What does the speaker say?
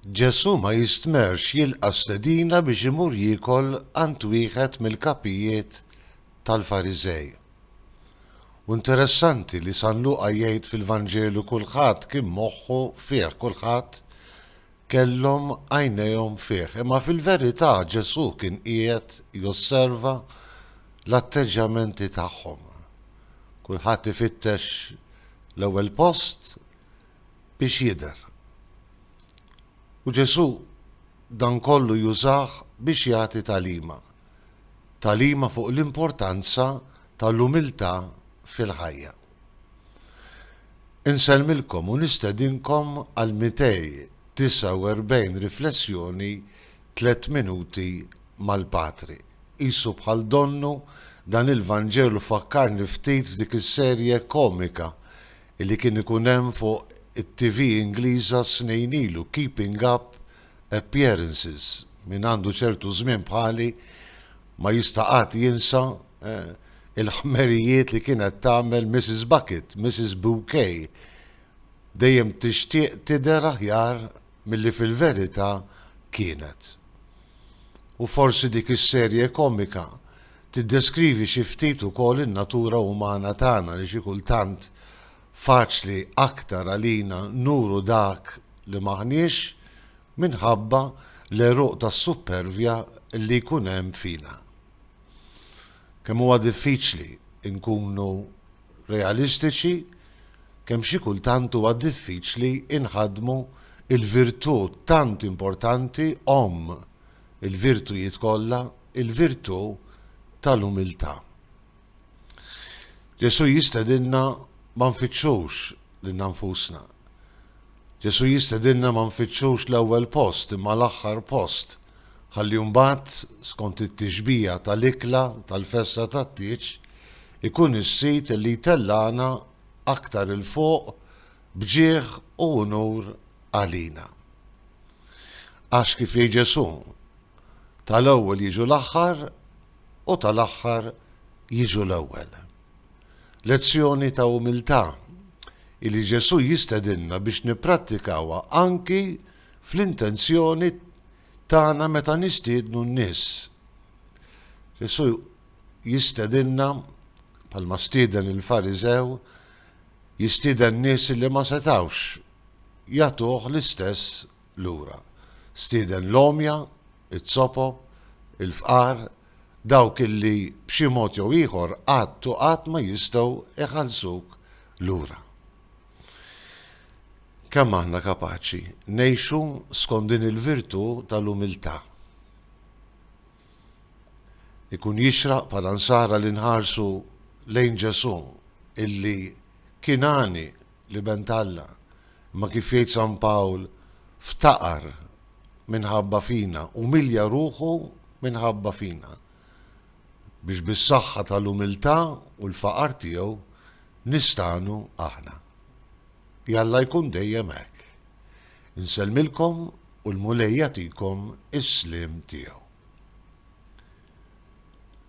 Ġesù ma jistmerrx jilqa' stedina biex imur jiekol għand wieħed mill-kapijiet tal-Fariżej. U interessanti li San Luqa jgħid fil-Vanġelu kulħadd kien moħħu fih kulħadd kellhom għajnejhom fih. Imma fil-verità Ġesù kien qiegħed josserva l-atteġġjamenti tagħhom. Kulħadd ifittex l-ewwel post biex jidher. U Ġesù dan kollu jużah biex jagħti tagħlima. Tagħlima fuq l-importanza tal-umiltà fil-ħajja. Insellmilkom u nistedinkom għal 249 riflessjoni Tliet Minuti mal-Patri. Qisu bħal donnu, dan il-Vanġelu fakkarni ftit f'dik is-serje komika li kien ikun hemm fuq it-TV Ingliża snin ilu, Keeping Up Appearances. Min għandu ċertu żmien bħali ma jista' qatt jinsa il-ħmerijiet li kienet tagħmel Mrs. Bucket, Mrs. Bouquet, dejjem tixtieq tidher aħjar milli fil-verità kienet. U forsi dik is-serje komika tiddeskrivi xi ftit ukoll in-natura umana tagħna li xi kultant faċli aktar għalina nuru dak li m'aħniex minħabba l-għeruq tas-suppervja li jkun hemm fina. Kemm huwa diffiċli nkunu realistiċi, kemm xi kultant huwa diffiċli nħaddmu l-virtù tant importanti, omm il-virtujiet kollha, il-virtù tal-umiltà. Ġesù jistedinna ma nfittxux lilna nfusna, Ġesù jistedinna ma nfittxux l-ewwel post imma l-aħħar post, ħalli mbagħad, skont it-tixbiha tal-ikla tal-festa tat-tieġ, ikun is-sid li jtellagħna aktar 'il fuq b'ġieħ u unur għalina. Għax, kif jgħid Ġesù, tal-ewwel jiġu l-aħħar u tal-aħħar jiġu l-ewwel. Lezzjoni ta' umiltà li Ġesù jistedinna biex nipprattikawha anki fl-intenzjoni tagħna meta nistiednu n-nies. Ġesù jistedinna, bħalma stieden il-Fariżew, jistieden nies li ma setgħux jagħtuh l-istess lura. Stieden l-għomja, iz-zopop, il-fqar, dawk illi b'xi mod jew ieħor qatt u qatt ma jistgħu jħallsuk lura. Kemm aħna kapaċi ngħixu skont din il-virtù tal-umiltà? Ikun jixraq bħala nsara li nħarsu lejn Ġesù illi kien għani L-Iben t'Alla, imma kif jgħid San Pawl, ftaqar minħabba fina, umilja ruħu minħabba fina, biex bis-saħħa tal-umiltà u l-faqar tiegħu nistagħnu aħna. Jalla jkun dejjem hekk. Insellmilkom u l-Mulej jagħtikom is-sliem tiegħu.